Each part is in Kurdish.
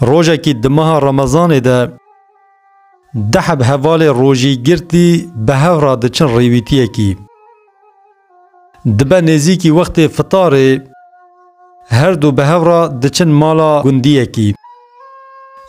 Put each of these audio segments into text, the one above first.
Rojekî di meha remezanê de deheb hevalê rojî girtî bi hev re diçin rêwîtiyekî. Dibe nêzîkî wextê fitarê her du bi hev re diçin mala gundiyekî.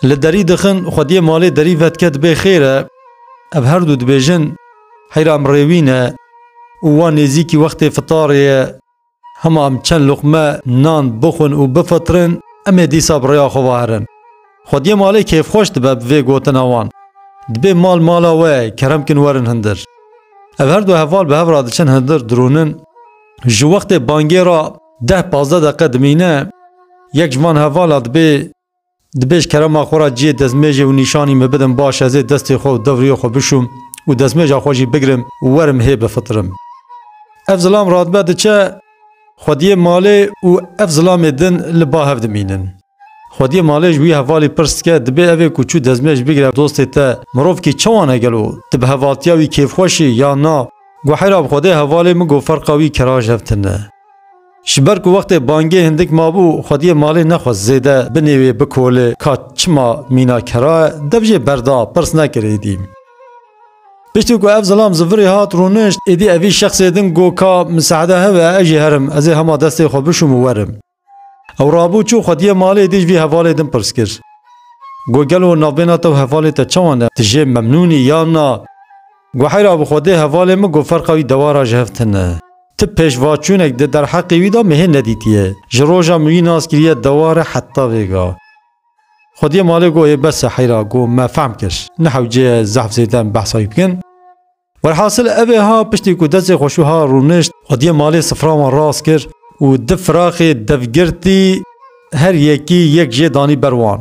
Li derî dixin xwediyê malê derî vedike dibê xêr e, ev her du dibêjin heyra em rêwîne û wan nêzîkî wextê fitarê ye. Hema em çend luqme nan bixwin û bifitirên, em ê dîsa bi rêya xwe ve herin. Xwediyê malê kêfxweş dibe bi vê gotina wan. Dibê mal mala we ye, kerem kin werin hundir. Ev her du heval bi hev re diçin hundir dirûnin. Ji wextê bangê re deh pazdeh deqe dimîne, yek ji van hevala dibê Dibêj kerema xwe ra ciyê dezmêjê û nîşanî min bidin baş ez ê destê xwe û devriyê xwe bişûm û dezmêja xwe jî bigirim û werim hê bifitirim. Ev zilam radibe diçe xwediyê malê û ev zilamê din li ba hev dimînin. Xwediyê malê ji wî hevalî pirs dike dibê evê ku çû dezmêj bigire dostê te mirovkî çawan e gelo di bi hevaltiya wî kêfxweş î yan na? Guhera bi xwedê hevalê min got ferqa wî keraj hev tune. Ji ber ku wextê bangê hindik mabû, xwediyê malê nexwest zêde binêwê bikolê ka çima mîna kera ye, dev jê berda, pirs nekir êdî. Piştî ku ev zilam zivirê hat rûnişt, êdî evî şexsê din got ka misehde hebe ez jî herim, ez ê hema destê xwe bişûm û werim. Ew rabû çû xwediyê malê êdî ji vî hevalê din pirs kir. Got gelo navbêhna te û hevalê te çawa ne, tu jê memnûn î yan na? Guheyra bi xwedê hevalê min got ferqa wî dewara ji hev tune. Ti pêşvaçûnek di derheqê wî de min hê nedîtiye. Ji roja min wî nas kiriye deware heta vêga. Xwediyê malê got hê bes e heyra got me fehm kir. Ne hewce ye zehf zêde em behsa wî bikin. Welhasil evê ha piştî ku destê xweşû ha rûnişt xwediyê malê sifra wan rast kir û di firaxê dev girtî her yekî yek jê danî ber wan.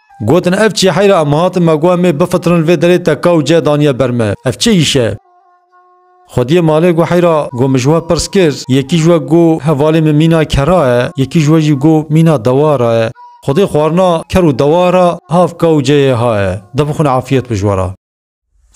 Gotin ev çi heyra em hatin me got em ê bifitirin li vê derê te ka û cih daniye ber me. Ev çi îş e? Xwediyê malê got heyra got min ji we pirs kir, yekî ji we got hevalê min mîna kera ye, yekî ji we jî got mîna dewa ra ye. Xwedê xwarina ker û dewa ra hav ka û cihê ha ye. Dibixwin afiyet bi ji we ra.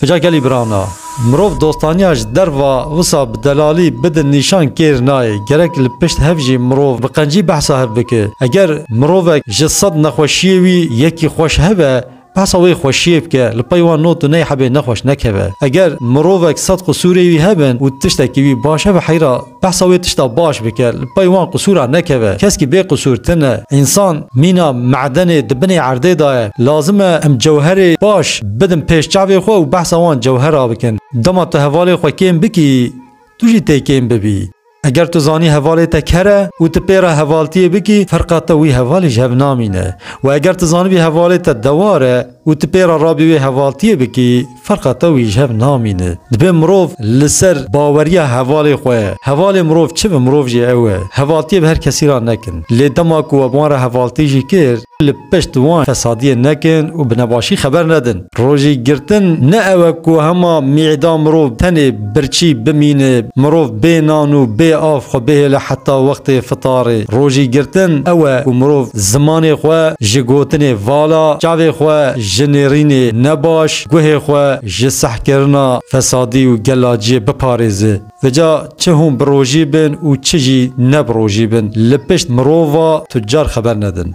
Ca gelî birana, mirov dostaniya ji derva wisa bi delalî bidin nîşan kêr nayê. Gerek li pişt hev jî mirov bi qencî behsa hev bike. Eger mirovek ji sed nexweşiyê wî yekî xweş hebe, behsa wê xweşiyê bike, li pey wan not û ney hebê nexweş nekeve. Eger mirovek sed qisûrê wî hebin û tiştekî wî baş hebe heyra. Behsa wê tişta baş bike, li pey wan qisûra nekeve. Keskî bê qisûr tine. Însan mîna me'denê di binê erdê de ye. Lazim e em cewherê baş bidin pêş çavê xwe û behsa wan cewhera bikin. Dema tu hevalê xwe kêm bikî, tu jî tê kêm bibî. Eger tu zanî hevalê te ker e û tu pê re hevaltiyê bikî, ferqa te wî hevalê ji hev namîne. Wê eger tu zanibî hevalê te dewar e, Û tu pê re rabî wê hevaltiyê bikî, ferqa te û î ji hev namîne. Dibe mirov li ser baweriya hevalê xwe, hevalê mirov çi bi mirov jî ew e, hevaltiyê bi her kesî re nekin. Lê dema ku we bi wan re hevaltî jî kir, li pişt wan fesadiyê nekin û bi nebaşî xeber nedin. Rojî girtin ne ew e ku hema mî'da mirov tenê Birçî bimîne, mirov bê nan û bê av xwe bihêle heta wextê fitarê. Rojî girtin ew e ku mirov zimanê xwe ji gotinê vala, çavê xwe ji nêrînê ne baş, guhê xwe ji sehkirina fesadî û gelaciyê biparêze. Veca çi hûn bi rojî bin û çi jî ne bi rojî bin, li pişt mirova tucar xeber nedin.